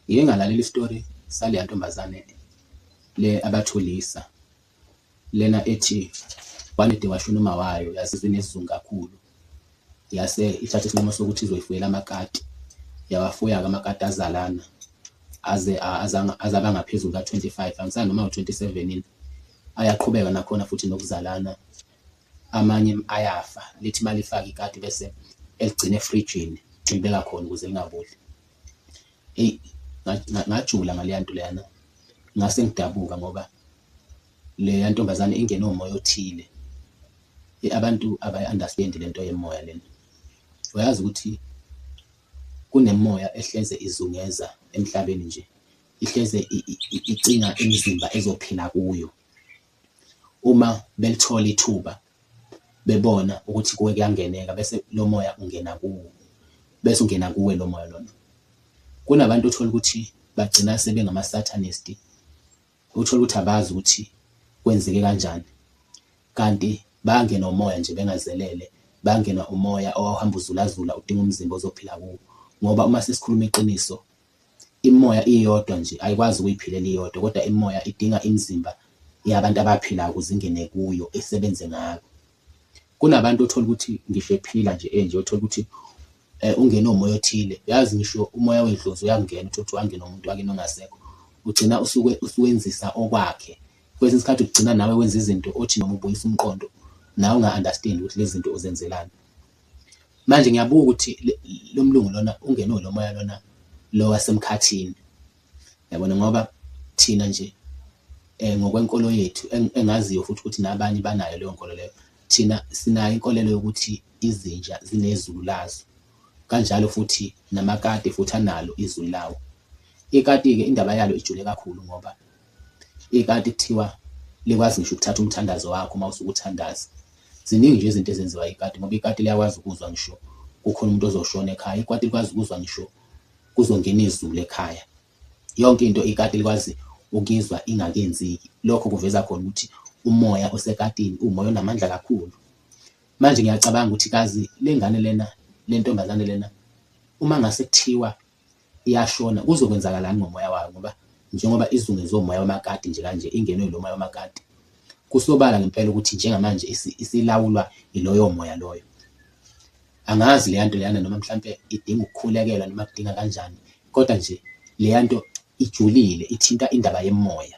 Ngike ngalalela istory saleya ntombazane le abathulisa lena ethi one day washona umawayo yazizwa inesizungu kakhulu yase ithatha isinqumo sokuthi izoyifuyela amakati yawafuya-ke amakati azalana aze aze aba ngaphezulu ka-25 angisani noma u-27 yini ayaqhubeka nakhona futhi nokuzalana. Amanye ayafa lithi malifaka ikati bese eligcina efrijini lilibeka khona ukuze lingaboli. Eyi ngajula ngaleya nto leyana, ngase ngidabuka ngoba leya ntombazane ingene umoya othile. Abantu abayi-understand-i le nto yemoya lena, uyazi ukuthi kunemimoya ehleze izungeza emhlabeni nje, ihleze icinga imizimba ezophila kuyo, Uma belithola ithuba bebona ukuthi kuwe kuyangeneka bese lo moya ungena kuwo, bese ungena kuwe lo moya lona. Kunabantu othola ukuthi bagcina sebengama-satanist, uthole ukuthi abazi ukuthi kwenzeke kanjani kanti bangenwa umoya nje bengazelele, bangenwa umoya owawuhamba uzulazula udinga umzimba ozophila kuwo ngoba uma sesikhuluma iqiniso Imimoya iyodwa nje ayikwazi ukuyiphilela iyodwa kodwa imimoya idinga imizimba yabantu abaphilayo ukuze ingene kuyo isebenze ngako. Kunabantu othola ukuthi ngisho ephila nje enje othola ukuthi ungene umoya othile, uyazi ngisho umoya wedlozi uyakungena uthole ukuthi wangena umuntu wakini ongasekho ugcina usuke uswenzisa okwakhe. Kwesinye isikhathi ugcina nawe wenza izinto othi noma ubuyisa umqondo nawe unga-understand-i ukuthi lezi zinto uzenzelani. Manje ngiyabuka ukuthi lo mlungu lona ungenwe lo moya lona lo wasemkhathini yabona ngoba thina nje um ngokwenkolo yethu engaziyo futhi ukuthi nabanye banayo leyo nkolo leyo thina sinayo inkolelo yokuthi izinja zinezulu lazo kanjalo futhi namakati futhi analo izulu lawo ikati-ke indaba yalo ijule kakhulu ngoba Ikati kuthiwa likwazi ngisho ukuthatha umthandazo wakho uma usuke uthandaza. Ziningi nje izinto ezenziwa ikati ngoba ikati liyakwazi ukuzwa ngisho kukhona umuntu ozoshona ekhaya. Ikati likwazi ukuzwa ngisho kuzongena izulu ekhaya. Yonke into ikati likwazi ukuyizwa ingakenzeki. Lokho kuveza khona ukuthi umoya osekatini uwumoya onamandla kakhulu. Manje ngiyacabanga ukuthi kazi lengane lena, lentombazane lena uma ngase kuthiwa iyashona kuzokwenzakalani ngomoya wayo ngoba njengoba izungezwe umoya wamakati nje kanje ingenwe ilo moya wamakati kusobala ngempela ukuthi njengamanje isilawulwa iloyo moya loyo angazi leya nto leyana noma mhlampe idinga ukukhulekelwa noma kudinga kanjani kodwa nje leya nto ijulile ithinta indaba yemoya